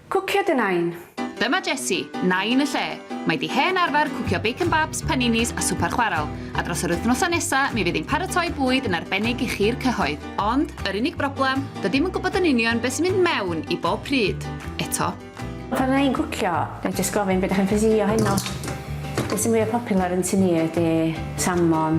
Cwcio dy Nain! Dyma Jessie, Nain y lle. Mae di hen arfer cwcio bacon babs, paninis a swper chwarel, a dros yr wythnosau nesa mi fydd hi'n paratoi bwyd yn arbennig i chi'r cyhoedd. Ond, yr unig broblem, dydi'm yn gwybod yn union be sy'n mynd mewn i bob pryd, eto. Pan fydda i'n cwcio, na i jyst gofyn be dach chi'n ffysi o heno. Be sy'n fwya popular yn tŷ ni ydi salmon,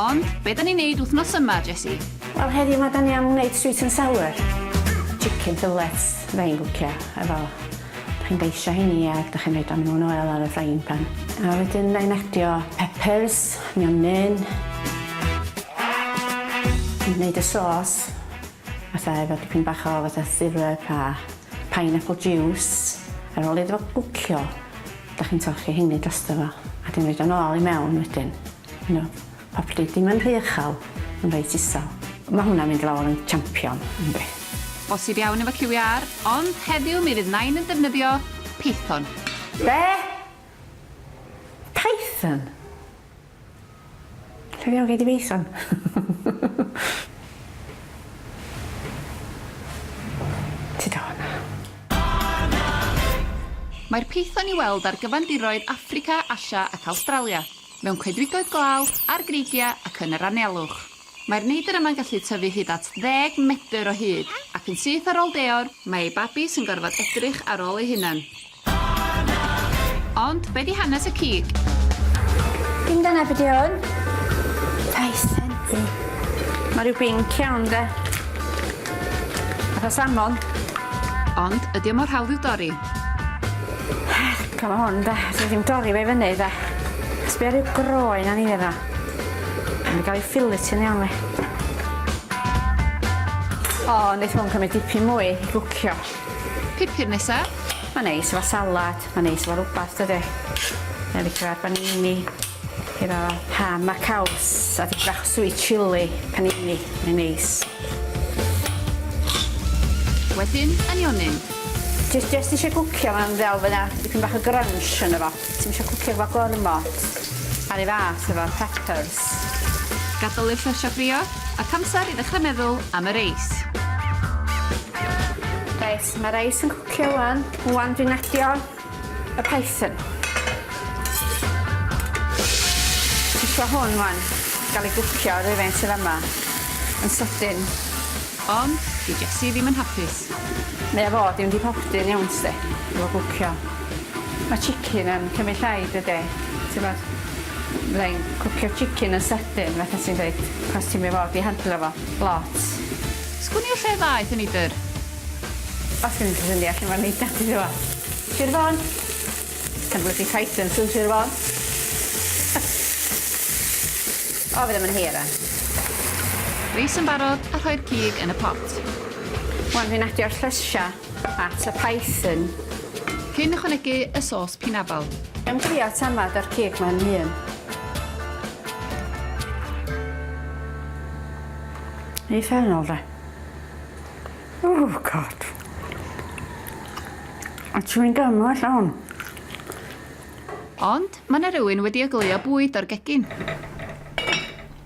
Ond, be da ni'n neud wthnos yma, Jessie? Wel heddiw ma da ni am wneud sweet and sour. Chicken fillets fydda i'n gwcio efo. Da chi'n beisio heini ag da chi'n roid o mewn oel ar y frying pan. A wedyn fydda i'n adio peppers, mionyn. Dwi'n neud y sauce fatha efo dipyn bach o fatha syrup a Pineapple juice, ar ôl iddo fo gwcio, dach chi'n torchi heini drosto fo, a wedyn roid o nôl i mewn wedyn, you know, probably dim yn rhy uchel, ond reit isel. Ma' hwnna'n mynd lawr yn champion, yndi. Bosib iawn efo QVR, ond heddiw mi fydd Nain yn defnyddio Python. Be? Python? Lle ddiawl gei di Fison? Ti dal yna? Mae'r python i'w weld ar gyfandiroedd Affrica, Asia ac Awstralia, mewn coedwigoedd glaw, ar greigiau ac yn yr anialwch. Mae'r neidr yma'n gallu tyfu hyd at ddeg medr o hyd, ac yn syth ar ôl deor, mae ei babis yn gorfod edrych ar ôl ei hunan. Ond be di hanes y cig? Dim dyna be di hwn. Rhai sensi. Mae rhyw binc iawn de. Fatha salmon. Ond ydy o mor hawdd i'w dorri? Cofio hwn de, dwi ddim dorri fe fyny de. Sbio rhyw groen a ni fe dda. Mae'n cael ei ffilitio'n iawn fe. O, wneud hwn cymryd dipyn mwy i gwcio. Pupur nesa. Mae'n neis efo salad, mae'n neis efo rwbath dydi? Mae'n licio ar banini, efo ham a caws a dipyn bach o sweet chilli, panini, mae'n neis. Wedyn, anionyn. Jyst jyst isio gwcio fo'n ddel fy' 'na dipyn bach o grunch yno fo. Ti'm isio cwcio efo gormod ar ei fath efo peppers. Gadael i'r llysiau ffrio ac amser i ddechrau meddwl am y reis. Reit, mae'r reis yn cwcio 'wan. Ŵan dwi'n adio y python. Dwi isio hwn 'wan gael ei gwcio yr un sydd yma yn sydyn. Ond dyw Jessie ddim yn hapus. Mae o fod i fynd i popty yn iawn 'sti efo gwcio. Mae chicken yn cymryd llai dydi? T'mod? Fydda i'n cwcio chicken yn sydyn fatha ti'n deud achos ti'm i fod i handlo fo lot. Sgwn i o lle ddaeth y neidr? Os gen ti syniad lle ma'r neidr 'di dod? Sir Fôn. Can blydi Titans yn Sir Fôn. O fe ddim yn hir rwan. Reis yn barod a rhoi'r cig yn y pot. Wan fi'n adio'r llysia. At a Python. Cyn ychwanegu y sos pinafal. Yn drio tamad o'r cig mae yn hun. Ei fennol de. Oh god. A chewing gum o allan hwn. Ond mae yna rhywun wedi ogleuo bwyd o'r gegin.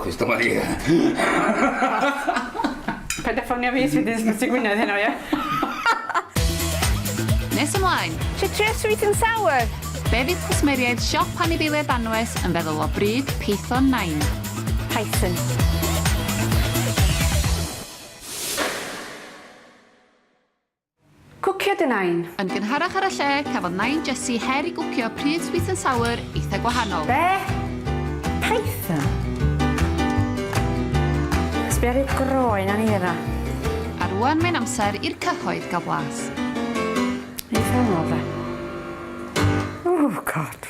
Chris dyma ni. Paid a ffonio fi os fydd ysbyty Gwynedd heno ie? Nes ymlaen! Ti trio sweet and sour? Be fydd cwsmeriaid siop anifeiliaid anwes yn feddwl o bryd Python Nain? Python. Cwcio dy Nain! Yn gynharach ar y lle, cafodd Nain Jessie her i gwcio pridd sweet and sour eitha gwahanol. Be? Python? Sbia ar ei groen a nira. A rŵan mae'n amser i'r cyhoedd gael blas. Eitha anodd de. Oh God!